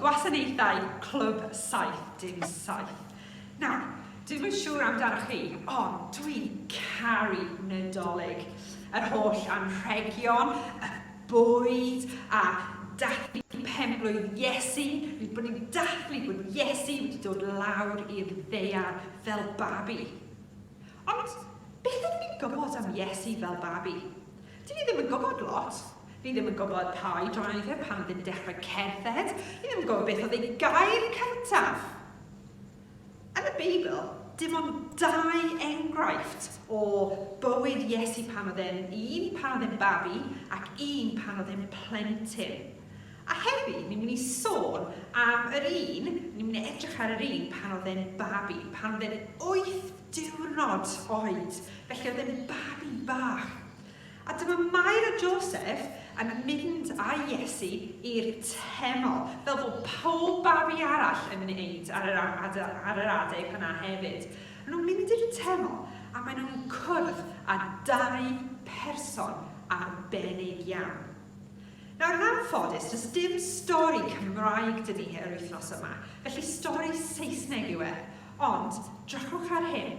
gwasanaethau Clwb 77. Nawr, dwi'n yn siŵr amdano chi, ond dwi'n caru Nadolig. Yr holl anrhegion, y bwyd a dathlu penblwydd Iesu, ein bod ni'n dathlu bod Iesu wedi dod lawr i'r ddaear fel babi. Ond beth ydw i'n gwybod am Iesu fel babi? Dw i ddim yn gwybod lot. Ni ddim yn gwybod pa oed roedd e pan oedd e'n dechrau cerdded. Ni ddim yn gwybod beth oedd ei gair cyntaf. Yn y Beibl, dim ond dau enghraifft o bywyd Iesu pan oedd e'n un pan oedd e'n babi ac un pan oedd e'n plentyn. A heddi, ni'n mynd i sôn am yr un, ni'n mynd i edrych ar yr un pan oedd e'n babi, pan oedd e'n wyth diwrnod oed, felly oedd e'n babi bach. A dyma Mair a Joseph yn mynd â Iesu i'r teml, fel bod pob babi arall yn wneud ar yr ar yr adeg yna hefyd. Maen nhw'n mynd i'r teml a maen nhw'n cwrdd â dau person arbennig iawn. Nawr, yn anffodus, does dim stori Cymraeg 'da ni yr wythnos yma, felly stori Saesneg yw e, ond drychwch ar hyn.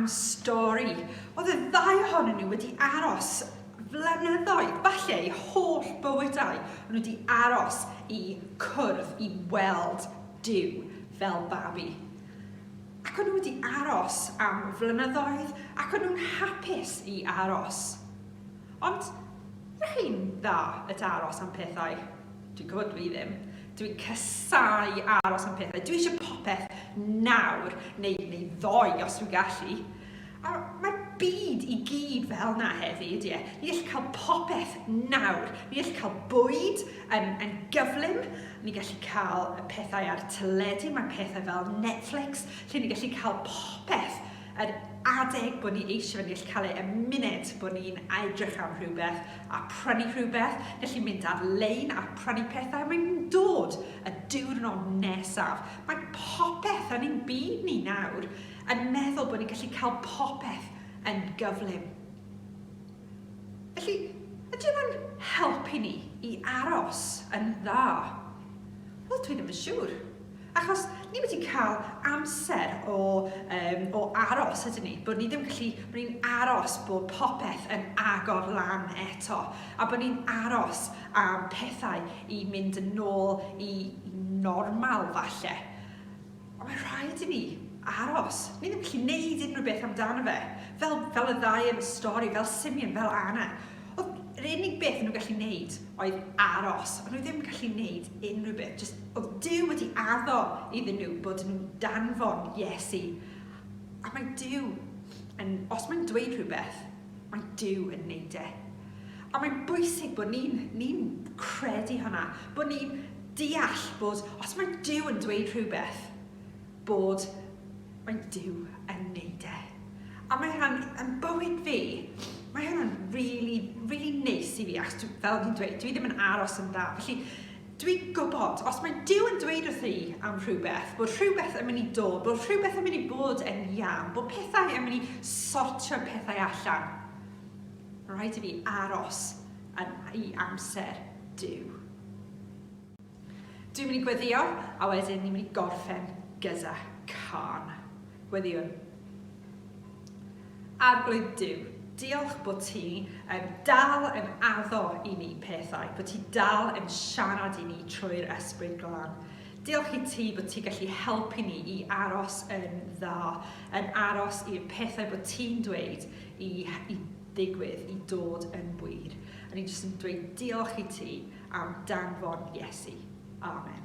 am stori. Oedd y ddau ohonyn nhw wedi aros flynyddoedd, falle eu holl bywydau, o'n nhw wedi aros i cwrdd i weld Duw fel babi. Ac o'n nhw wedi aros am flynyddoedd ac o'n nhw'n hapus i aros. Ond rhain dda y aros am pethau. Dwi'n gwybod dwi ddim. Dwi'n casau aros am pethau. Dwi eisiau popeth nawr, neu, neu ddoe os dwi'n gallu. A mae'r byd i gyd fel na heddi, ydy e? Ni all cael popeth nawr. Ni all cael bwyd yn, yn gyflym. Ni gallu cael pethau ar y teledu. Mae pethau fel Netflix, lle ni gallu cael popeth Yr adeg bod ni eisiau fe nill cael e y munud bod ni'n aedrych am rhywbeth a prynu rhywbeth, felly mynd ar lein a prynu pethau a mae'n dod y diwrnod nesaf. Mae popeth yn ein byd ni nawr yn meddwl bod ni'n gallu cael popeth yn gyflym. Felly, ydy hwnna'n helpu ni i aros yn dda? Wel, dwi ddim yn siŵr. Achos ni wedi cael amser o, um, o aros ydyn ni, bod ni ddim gallu, bod ni'n aros bod popeth yn agor lan eto, a bod ni'n aros am pethau i mynd yn ôl i normal falle. Ond mae rhaid i ni aros. Ni ddim gallu neud unrhyw beth amdano fe. Fel, fel y ddau yn y stori, fel Simeon, fel Anna. Oedd yr unig beth nhw'n gallu neud oedd aros. Ond nhw ddim gallu neud unrhyw beth, just Oedd Duw wedi addo iddyn nhw bod yn danfon Iesu. A mae Duw yn... Os mae'n dweud rhywbeth, mae Duw yn neud e. A mae'n bwysig bod ni'n ni credu hwnna, bod ni'n deall bod os mae Duw yn dweud rhywbeth, bod mae Duw yn neud e. A mae hwnna'n, yn bywyd fi, mae hwnna'n really, really neis i fi, achos fel fi'n dweud, dwi ddim yn aros yn dda. Felly, Dwi'n gwybod, os mae Duw yn dweud wrtho i am rhywbeth, bod rhywbeth yn mynd i dod, bod rhywbeth yn mynd i bod yn iawn, bod pethau yn mynd i sortio'r pethau allan, mae'n rhaid i fi aros yn i amser Duw. Dwi'n mynd i gweddio, a wedyn ni'n mynd i gorffen gyda cân. Gweddiwn. Arglwydd Duw, diolch bod ti yn dal yn addo i ni pethau, bod ti dal yn siarad i ni trwy'r Esbryd Glân. Diolch i ti bod ti gallu helpu ni i aros yn dda, yn aros i'r pethau bod ti'n dweud i, i ddigwydd, i dod yn wir. A ni jyst yn dweud diolch i ti am danfon Iesu. Amen.